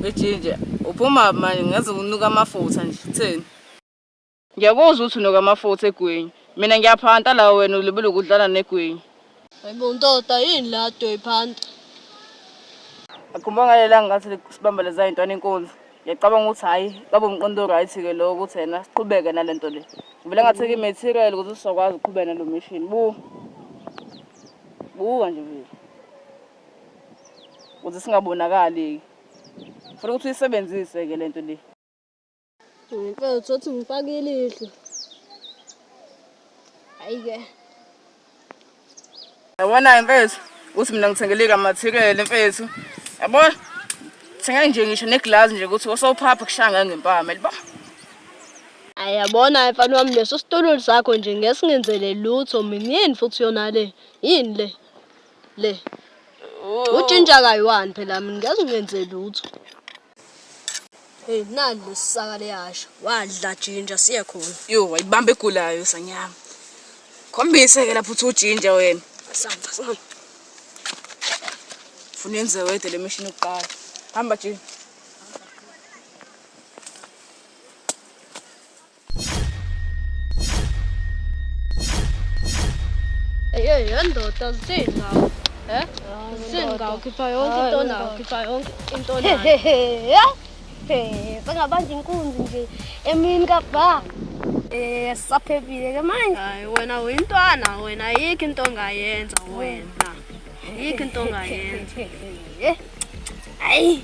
ejinja uphuma manje ngaze unuka amafutha nje utheni Ngiyakuzwa ukuthi unokamafutha egwinyi. Mina ngiyaphanta la wena ulibele ukudlala negwinyi. Hayibo ntoda yini la doyiphanta. Akhumba ngale langa ngathi sibamba leza yintwana inkunzi. Ngiyacabanga ukuthi hhayi kabe umqondo right-ke lo ukuthi yena siqhubeke nale nto le. Ngivele ngatheka i-material ukuthi sizokwazi ukuqhubeka nalo mission. Bu buka nje vele ukuze singabonakali-ke. Funa ukuthi uyisebenzise-ke le nto le. Ngicela ukuthi ngifake ilihlo. Hayi-ke. Yabona-ke mfethu ukuthi mina ngithengele ikamathikele mfethu. Yabo? Thenga nje ngisho negilazi nje ukuthi osawuphapha kushanga ngempama, yabo? Ayabona mfana wami leso situlo sakho nje ngesingenzele lutho mina yini futhi yona le yini le le utshintsha kayiwani phela mina ngezingenzele lutho Hey nani lesisaka leyasha wadla jinja siye khona. Yo wayibamba egulayo sanyama. Khombise ke lapho uthi ujinja wena. Samba samba. Funa yenze wedwa le mishini yokuqala. Hamba jinja. Ey yendoda zithini Eh? Singawukhipha yonke into nayo, khipha yonke into nayo. Hehe. Sengabanje inkunzi nje emini kabha. Eh saphephile ke manje. Hayi wena uyintwana wena ayikho into ongayenza wena. Ayikho into ongayenza. Hayi.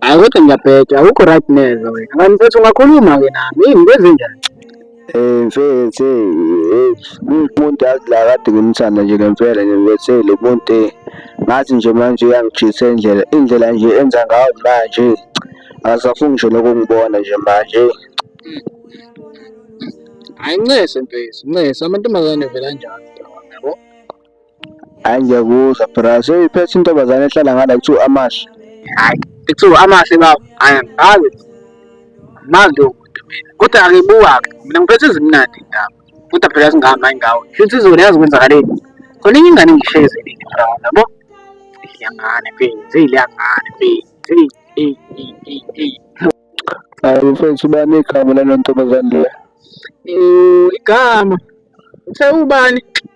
Hayi kodwa ngiyabheda, awukho right neze wena. Kanti mfethu ungakhuluma-ke nami, yini into ezinjani? Eh mfethu eh umuntu yazi la kade ngimthanda nje ngempela nje mfethu eh, lo muntu eh, ngathi nje manje uyangijisa indlela indlela nje enza ngayo manje akasafuni nje lokungibona nje manje Hayi ncese mfethu, ncese amantombazane vele anjalo. Hayi ngiyakuzwa bra, seyiphethe intombazane ehlala ngala kuthiwa amahle. Hayi, kuthiwa amahle baba. Hayi angazi. Manje lowo muntu mina. Kodwa angibuka-ke. Mina ngiphethe izimnandi indaba. Kodwa phela singama ingawo. Futhi izolo yazi kwenzakaleni. Khona enye ingane engihlezi nini bra, yabo? Ilangane mfethu, ilangane mfethu. Eyi, eyi, eyi, eyi, eyi. Hayi mfethu ubani igama lalo ntombazane le? Eh, igama. Uthe ubani?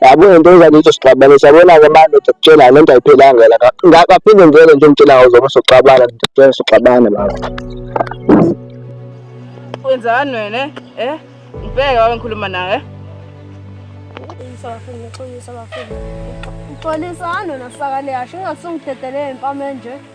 yabo into enjani izosixabana siyabona-ke manje ndikutshela le nto ayiphelanga la ngaphinde ngivele nje ngitshela ngawo zobe soxabana ndikutshela soxabana baba wenzani wena eh? eh ngibheke wabe ngikhuluma nawe uxolisani wena sakale yasho ingasungidedelele impama enje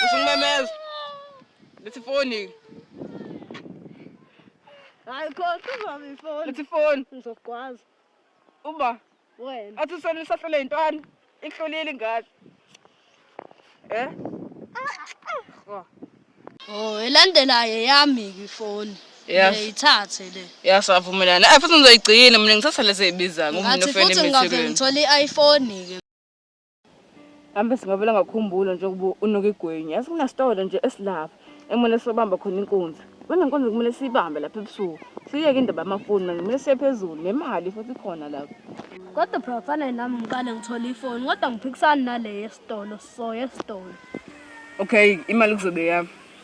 Ngisho ngimemeza. Lethi ifoni. Hayi khohlwa ubaba ifoni. Lethi ifoni. Ngizokwazi. Uba wena. Athi usona usahlule intwana. Ihlulile ingane. Eh? Oh. Oh, elandelayo yami ifoni. Ngiyithathe le. Ya savumelana. Eh futhi ngizoyigcina mina ngithatha lezi ezibiza ngomuntu ofela emithekweni. Futhi ngingavela ngithola i-iPhone ke. Ambe singavela ngakhumbula nje ukuba unuka igwenye. Asikunasitolo nje esilapha ekumele sobamba khona inkunzi. Kunenkunzi kumele siyibambe lapha ebusuku. Siyeke indaba yamafoni manje kumele siye phezulu nemali futhi ikhona lapha. Kodwa phela kufanele nami ngiqale ngithole ifoni kodwa ngiphikisani nale yesitolo so yesitolo. Okay, imali kuzobe yami.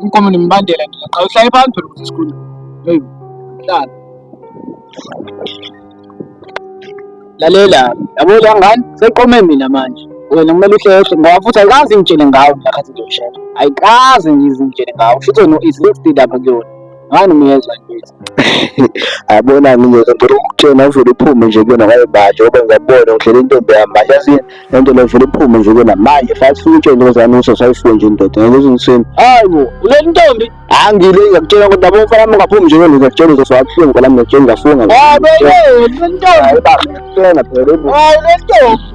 Umgomo nemibandela nje qha uhlale phansi phela ukuthi sikhulu. Hey. Hlala. Lalela, yabo la ngane seqome mina manje. Wena kumele uhlehlo ngoba futhi ayikazi ngitshele ngawo mina khathi ngiyoshela. Ayikazi ngizingitshele ngawo. Futhi wena izingitshela lapha kuyona. ngani miyeza ngithi ayabona ngiyeza ngicela ukutshena uvele uphume nje kuyona ngaye manje ngoba ngiyabona ngidlela intombi yami manje yazi lento le vele uphume nje kuyona manje fathi futhi utshene ngozani uso sayifuwe nje indoda ngeke uzinsini hayi bo uleli ntombi angile ngiyakutshela ukuthi yabo mfana wami ungaphumi nje kuyona ngiyakutshela uzofa kabuhlungu ngoba nami ngiyakutshela ngafunga hayi bo uleli ntombi hayi baba ngiyakutshela phela hayi uleli ntombi